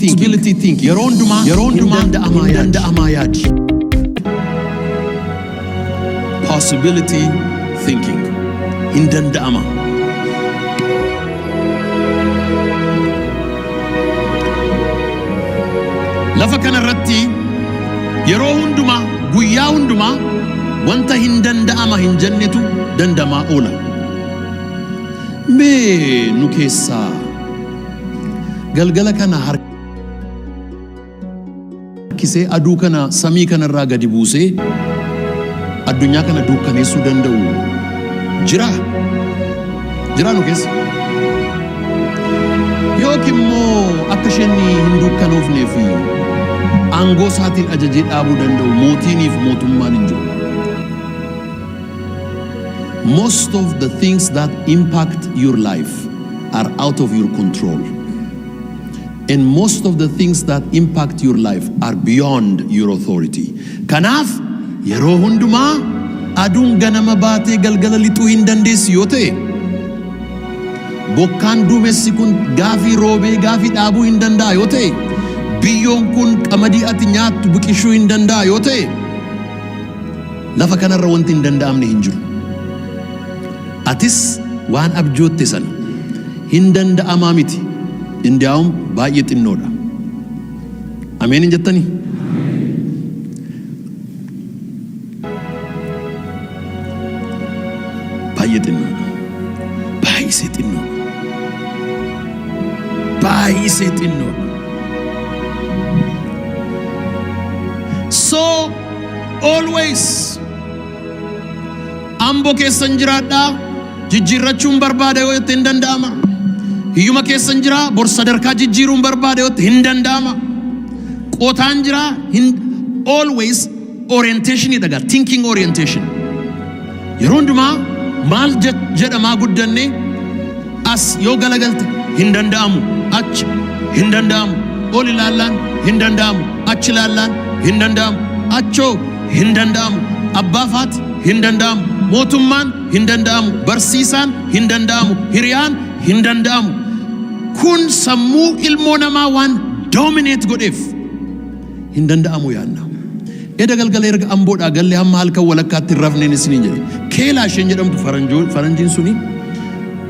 Possibility think. Yeroo hundumaa yeroo hundumaa hin danda'amaa yaadi. Possibility thinking. Hin danda'ama. Lafa kana irratti yeroo hundumaa guyyaa hundumaa wanta hin danda'ama hin jennetu danda'amaa oola. Mee nu keessaa Galgala kana harkisee aduu kana samii kana irraa gadi buusee addunyaa kana duukkaneessuu danda'u jiraa? Jiraa nu keessa? Yookiin immoo akka isheen hin duukkanoofnee fi aangoo isaatiin ajajee dhaabuu danda'u mootiiniif mootummaan hin jiru. Most of the things that impact your life are out of your control. And most of the things that impact your life are beyond your authority. Kanaaf yeroo hundumaa aduun ganama baatee galgala lixuu hin dandeessu yoo ta'e bokkaan duumessi kun gaafii roobee gaafii dhaabuu hin danda'a yoo ta'e biyyoon kun qamadii ati nyaattu biqilchuu hin danda'a yoo ta'e Lafa kana irra wanti hin danda'amne hin jiru. Atis waan abjootte sana hin danda'amaa miti, indiyaawum baay'ee xinnoodha. Ameen hin jettanii? Baay'ee xinnoodha. Baay'isee xinnoodha. Baay'isee xinnoodha. So Always Ambo keessan jiraadhaa jijjiirrachuun barbaada yoo jette hin danda'ama. Hiyyuma keessan jira bor sadarkaa jijjiiruun barbaada yoo jette hin danda'ama. Qotaan jira hin always orientation dha gaa thinking orientation. Yeroo hundumaa maal jedhamaa guddanne as yoo galagalte hin danda'amu achi hin danda'amu ol ilaallaan hin danda'amu achi ilaallaan hin danda'amu achoo hin danda'amu abbaa faati hin danda'amu mootummaan hin danda'amu barsiisaan hin danda'amu hiriyaan hin danda'amu kun sammuu ilmoo namaa waan doomineet godheef hin danda'amu yaadna. Eda galgala erga Amboodhaa galle hamma halkan walakkaatti hin rafneen isiniin jedhe. Keelaa isheen jedhamtu faranjoo- faranjiin suni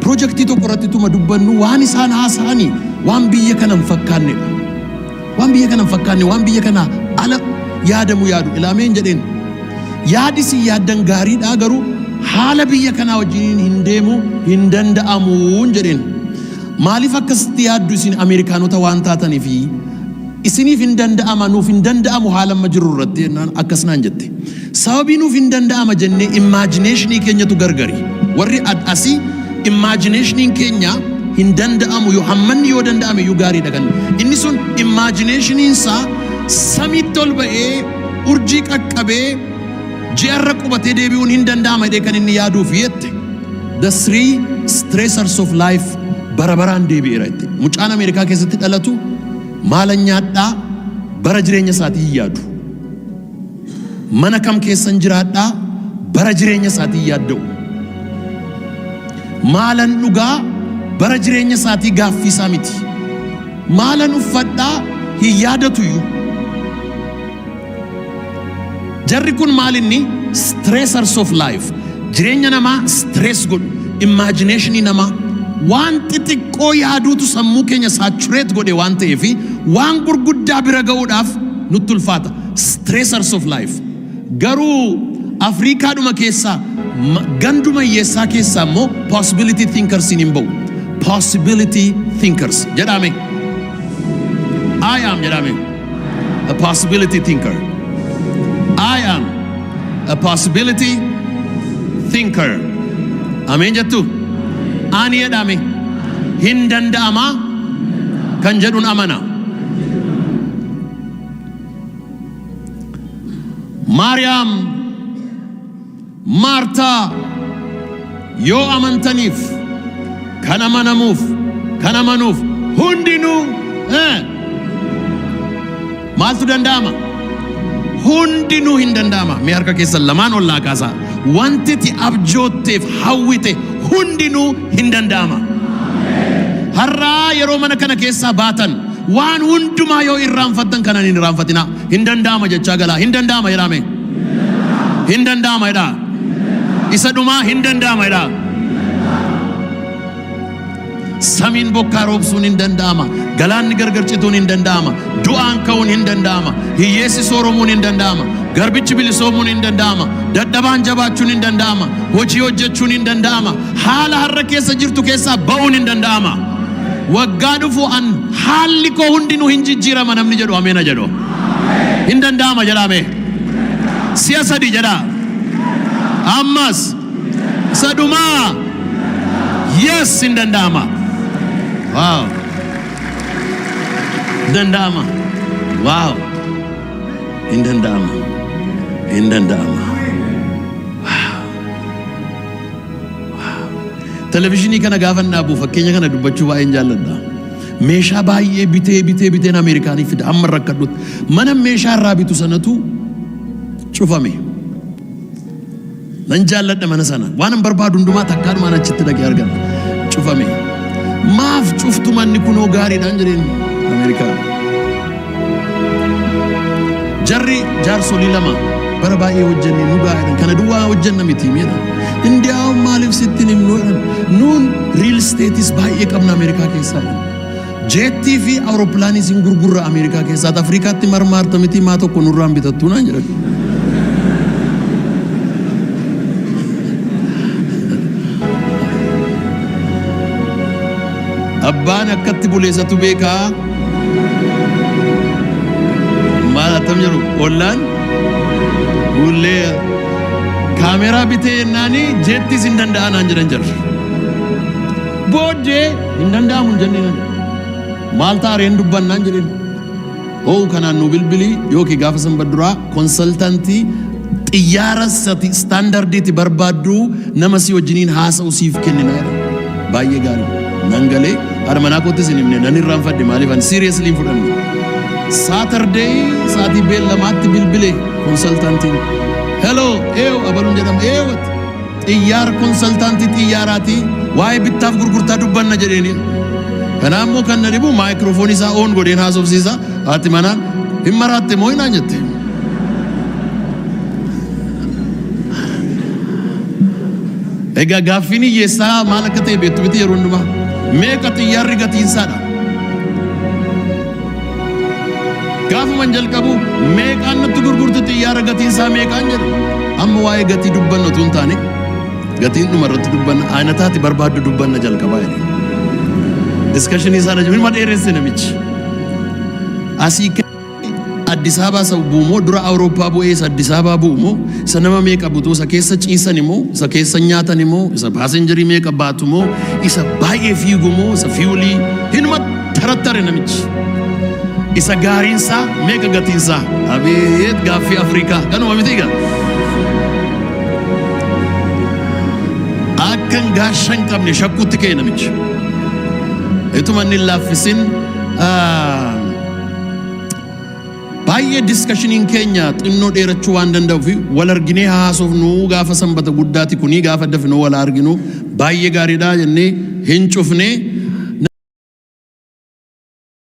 pirojektii tokko irratti tuma dubbannu waan isaan haasa'ani waan biyya kana hin fakkaannedha. Waan biyya kana hin fakkaanne waan biyya kana ala yaadamu yaadu ilaameen jedheen. Yaadi isin yaaddan gaariidhaa garuu haala biyya kanaa wajjin hin deemu hin danda'amuun jedheen. Maaliif akkasitti yaaddu isin Ameerikaanota waan taataniifi Isiniif hin danda'ama, nuuf hin danda'amu haala amma jirru irratti jennaan akkas naan jette. Sababii nuuf hin danda'ama jennee imaajineeshinii keenyatu gargari. Warri ad asii imaajineeshiniin keenya hin danda'amu yoo hammanni yoo danda'ame iyyuu gaariidha kan inni sun imaajineeshiniin isaa samiitti ol ba'ee urjii qaqqabee ji'arra qubatee deebi'uun hin danda'ama jedhee kan inni yaaduuf jette. The three stressors of life bara baraan deebi'eera jette. Mucaan Ameerikaa keessatti dhalatu Maalan nyaadhaa bara jireenya isaatii hin yaadu. Mana kam keessan jiraadhaa bara jireenya isaatii hin yaadda'u. Maalan dhugaa bara jireenya isaatii gaaffii isaa miti. Maalan uffadhaa hin yaadatuyyu. Jarri kun maal inni stressors of life jireenya namaa stress godhu imaajineeshinii namaa waan xixiqqoo yaaduutu sammuu keenya saatureet godhe waan ta'ee fi waan gurguddaa bira ga'uudhaaf nutti ulfaata stressors of life garuu afriikaadhuma keessaa ma- ganduma hiyyeessaa keessaa immoo possibility thinkers hin ba'u possibility thinkers jedhame I am jedhame. a possibility thinker. I am a possibility thinker. Ameen jettu? Ani jedhame hin danda'amaa kan jedhun amana. Maariyaam Maartaa, Yoo amantaniif, kan amanamuuf, kan amanuuf hundinuu eh, maaltu danda'ama? Hundinuu hin danda'ama. Mee harka keessan lamaan ol naa kaasaa. Wanti ati abjootteef hawwite hundinuu hin danda'ama. Har'aa yeroo mana kana keessaa baatan waan hundumaa yoo irraanfattan kanan hin irraanfatinaa. Hin danda'ama jechaa galaa. Hin danda'ama jedhaa mee. Hin danda'ama jedhaa. Isa dhumaa hin danda'ama jedhaa. Samiin bokkaa roobsuun hin danda'ama. Galaanni gargar cituun hin danda'ama. Du'aan ka'uun hin danda'ama. Hiyyeessi sooromuun hin danda'ama. Garbichi bilisoomuun hin danda'ama. Dadhabaan jabaachuun hin danda'ama. Hojii hojjechuun hin danda'ama. Haala har'a keessa jirtu keessaa ba'uun hin danda'ama. Waggaa dhufu an haalli koo hundinuu hin jijjiirama namni jedhu ameen haa jedhu. Hin danda'ama jedhaa mee. Si'a sadii jedhaa. Ammas isa dhumaa. Yes hin danda'ama. Wow. Hin danda'ama. Wow. Hin danda'ama. Hin danda'ama. Televizyinii kana gaafan dhaabu fakkeenya kana dubbachuu baay'een jaalladha. Meeshaa baay'ee bitee bitee biteen Ameerikaanii fida amma rakkadhutti. Mana meeshaa irraa bitu sanatu cufame. Nan jaalladha mana sana. Waan hin barbaadu hundumaa takkaadhumaan achitti dhaqee argadha. Cufame. Maaf cuftu manni kunoo gaariidhaan jedheen Ameerikaa. Jarri jaarsolii lama bara baay'ee hojjenne nu gaa'eedhan kana duwwaa hojjenna miti meedha. Indiyaawwan maaliif sitti hin himnu jedhan nuun riil isteetis baay'ee qabna Ameerikaa keessaa jedhan. Jeettii fi awurooppilaaniis hin gurgurra Ameerikaa keessaa ati Afrikaatti marmaarta miti maa tokko nurraan bitattuu naan jedhan. Abbaan akkatti bule isatu beeka. Maal attam jiru ollaan bullee kaameeraa bitee yennaanii jettis hin danda'a naan jedhan jarri. Booddee hin danda'amu hin jenneen maal taareen dubbannaan jedheen. Hoo'u kanaan nuu bilbili yookiin gaafa sanbat duraa konsaltantii xiyyaara sati istaandardiiti barbaaddu nama si wajjiniin haasa'u siif kennina jedhan. Baay'ee gaarii. Nan galee haadha manaa koottis hin himne nan irraanfadhe maaliif ani siiriyeeslii hin fudhanne. Saatardeey sa'aatii beellamaatti bilbile konsaltantiin. Heloo eew abaluun jedhama eewwatti. Xiyyaar konsaltaantii xiyyaaraati waa'ee bittaaf gurgurtaa dubbanna jedheeni. Kanaa immoo kan na dhibu maayikiroofoonii isaa oon godheen haasofsiisa haati manaa hin maraatte moo hinaan jette. Egaa gaaffiin hiyyeessaa maal akka ta'e beektu miti yeroo hundumaa meeqa xiyyaarri gatiinsaadha. Gaafuman jalqabu meeqaan nutti gurgurtu xiyyaara gatiin isaa meeqaan jedhu amma waa'ee gatii dubbanna utuu hin taane gatiin dhuma irratti dubbanna aynataati barbaaddu dubbanna jalqabaa jedhe. Diskashinii sana jiru ilma dheeresse namichi. Asii ka'ee Addis Ababaa isa bu'u moo dura Awurooppaa bu'ee isa Addis Ababaa bu'u moo isa nama meeqa butu isa keessa ciisan moo isa keessa nyaatan moo isa paasenjarii meeqa baatu moo isa baay'ee fiigu moo isa fiiwulii hin Tarattare namichi isa gaariin isaa meeqa gatiin isaa? Abeet gaaffii Afrikaa kanuma miti egaa. Akkan gaasha hin qabne shakkuutti ka'e namichi. Ituma inni hin laaffisin ah, Baay'ee discussionin keenya xinnoo dheerachuu waan danda'ufi wal arginee haa haasofnu gaafa sanbata guddaati kunii gaafa dafnoo wal haa arginu baay'ee gaariidha jennee hin cufnee